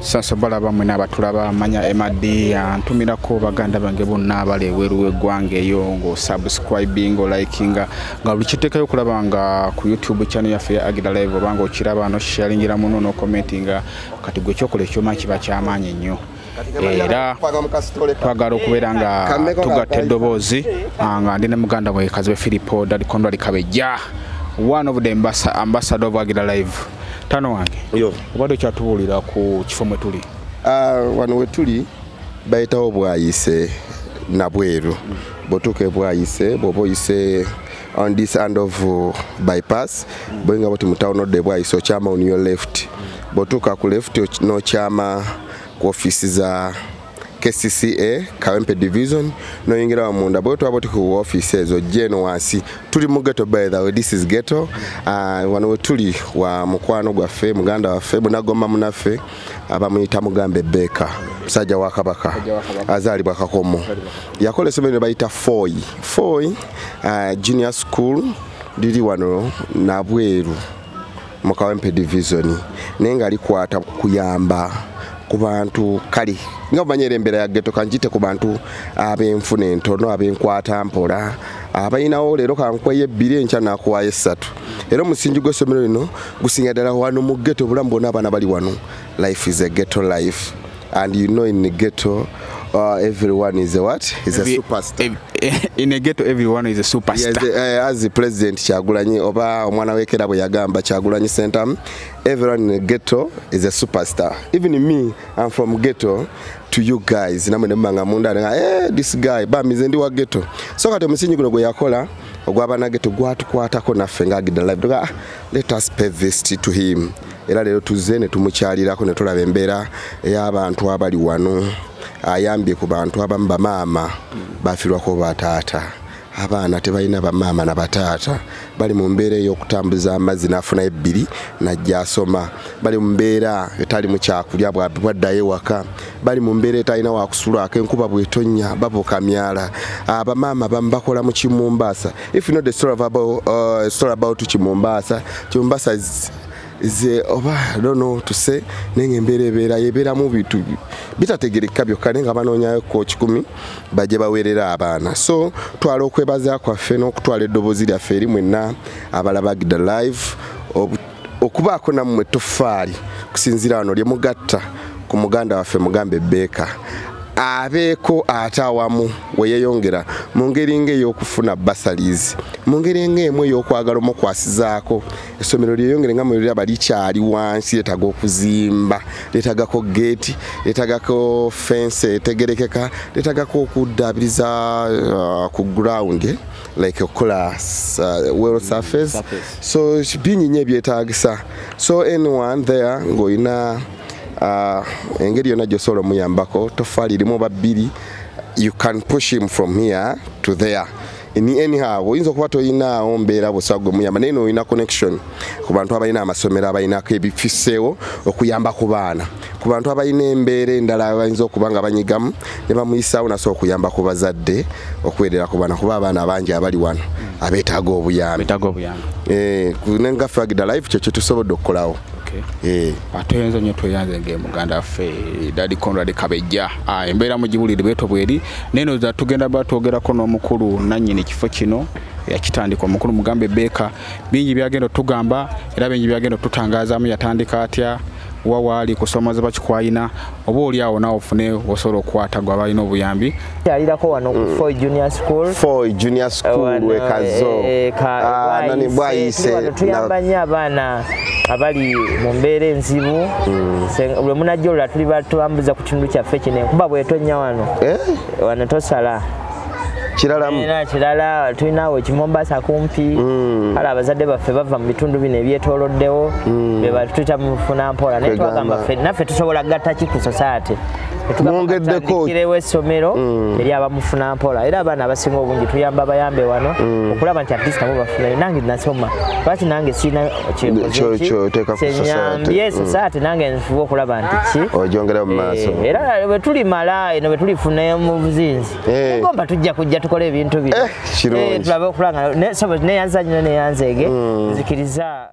sasa balaba mwena abatulaba manya mad antumirako baganda bange bonna abali ebweru w'eggwanga eyo ng'osubscribing olikinga nga buli kiteekayo okulaba nga ku youtube channel yaffe ya agida live oba nga okiraba noshalingira muno nokomentinga kati gwe kyokola ekyoma kiba kyamaanyi nnyo era twagala okubeera nga tugatta eddoboozi ah, nga ndi ne muganda wekazi we filipo dadikondoalikabejja one of the ambassador of agida live tano wange obadde okyatubuulira ku kifo mwe tuli ah, wano we tuli bayitawo bwayise nabweru bwotuuka ebwayise bwoba oyise on this end of uh, bypass boyinga boti mutawuni odda ebwayise okyama on your left bwotuuka ku left n'okyama ku ofiisi za kcca kawempe division noyingira wamunda bwe twaba oti ku office ezo jeno wansi tuli mu geto by the way this is geto uh, wano wetuli wa mukwano gwaffe muganda waffe munagomba munaffe abamuyita mugambe beka musajja wa kabaka azaalibwa kakomo yakola esomero ne bayita foy foy uh, junior school liri wano nabweru mu kawempe divizoni naye nga likwata kuyamba ku bantu kale nga bumanyera embeera ya geto kanjite ku bantu ab'enfuna entono ab'enkwata mpola abalinawo leero kankwayo ebbiri enkya nakuwayo essatu era omusingi gw'essomero lino gusinga ddala wano mu geto obulamu bwona abaana bali wano life is a geto life And you know in the ghetto uh, everyone is a what? Is a superstar. In a ghetto everyone is a superstar. Yes, uh, as the president Chagulanyi oba omwana wekera bwe yagamba Chagulanyi Sentam, everyone in the ghetto is a superstar. Even me, I'm from ghetto to you guys. Namwe ne manga munda nga eh this guy ba mizendi wa ghetto. So kati omusinyi guno gwe yakola ogwa banage tugwatukwatako naffe ngagidala. Ah, let us pay this to him. era leero tuzze ne tumukyalirako ne tulaba embeera ey'abantu abali wano ayambye ku bantu abamu bamaama bafirwako bataata abaana tebalina bamaama na bataata bali mu mbeera ey'okutambuza amazzi n'afuna ebbiri najja asoma bali mu mbeera etali mu kyakulya bwaddayo ewaka bali mu mbeera etalina wakusulwako enkuba bwetonya babuka myala abamaama bamu bakola mu kimumbaasa if not the story about, uh, story about kimumbaasa kimumbaasa ze oba dono tuse nenge mbere bera yebera mu bitu bitategereka byo kale nga banonya ko kikumi baje bawerera abana so twalo kwebaza kwa fe no kutwale dobozi lya feri mwenna abala bagda live okubaako nammwe toffaali kusinziira wano lye mugatta ku muganda waffe mugambe beeka abeeko ate awamu weyeyongera mu ngeri ng'ey'okufuna basalizi mu ngeri ng'emu ey'okwagala omukwasizaako essomero lyeyongere nga mweraba likyali wansi letaga okuzimba letagako gate letagako fense etegerekeka letagako okuddabiriza uh, ku ground eh, like okukola uh, well surface so bingi nyo ebyetagisa so anyone there ngaolina uh, engeri yona gyosobola omuyambako tofaali limu babbiri you can push him from here to there ni anyhow oyinza okuba toyinaawo mbeera busa gwe muyamba naye noolina connection ku bantu abalina amasomero abalinako ebifiseewo okuyamba ku baana ku bantu abalina embeera endala bayinza okuba nga banyigamu ne bamuyisaawo nasobola okuyamba ku bazadde okuweerera ku baana kuba abaana bangi abali wano abeetaaga obuyambi eh, nengaffe agida life kyo kyetusobodde okukolawo eh. ah, toyinza nyo tweyanze ngaemuganda waffe dadi conrad kabejja ah, embeera mugibulire bweto bweri neno za tugenda ba twogerako n'omukulu nannyini kifo kino yakitandika omukulu mugambe beeka bingi byagenda otugamba era bingi byagenda otutangazaamu yatandika atya wa waali kusomoza bakikwayina oba oli awo nawe ofune osobola okukwata gwe abalina obuyambi yalirako wano mm. foy junior school foy junior school wekazo eh, eh, ah, nani bwayise tuyamba nnyo abaana abali mu mbeera enzibu mm. lwe munajja olula tuli batubambuza ekitundu kyaffe kino enkuba bwetonya wano eh? wano tosala kiralamuera kirala tulinaawo ekimombasa kumpi mm. kale abazadde baffe bava mu bitundu bino ebyetoloddewo mm. bebatuyita mufuna mpola naye twagamba ffe naffe tusobola gatta ki ku sosaate mwongeddekokiriwo essomero mm. eri abamufuna mpola era abaana abasinga obungi tuyamba bayambe wano okulaba nti atleast nabo bafunayo nange nasoma lwaki nange siina kyenyambye sasati mm. nange nfuba okulaba nti ki ojongera mu maaso eh, era bwetuli mala eno bwetulifuna mu buzinzi eh. gomba tujja kujja tukole ebintu bino eh, tulabe okulanga neyanza nyina neyanzeege mm. nzikiriza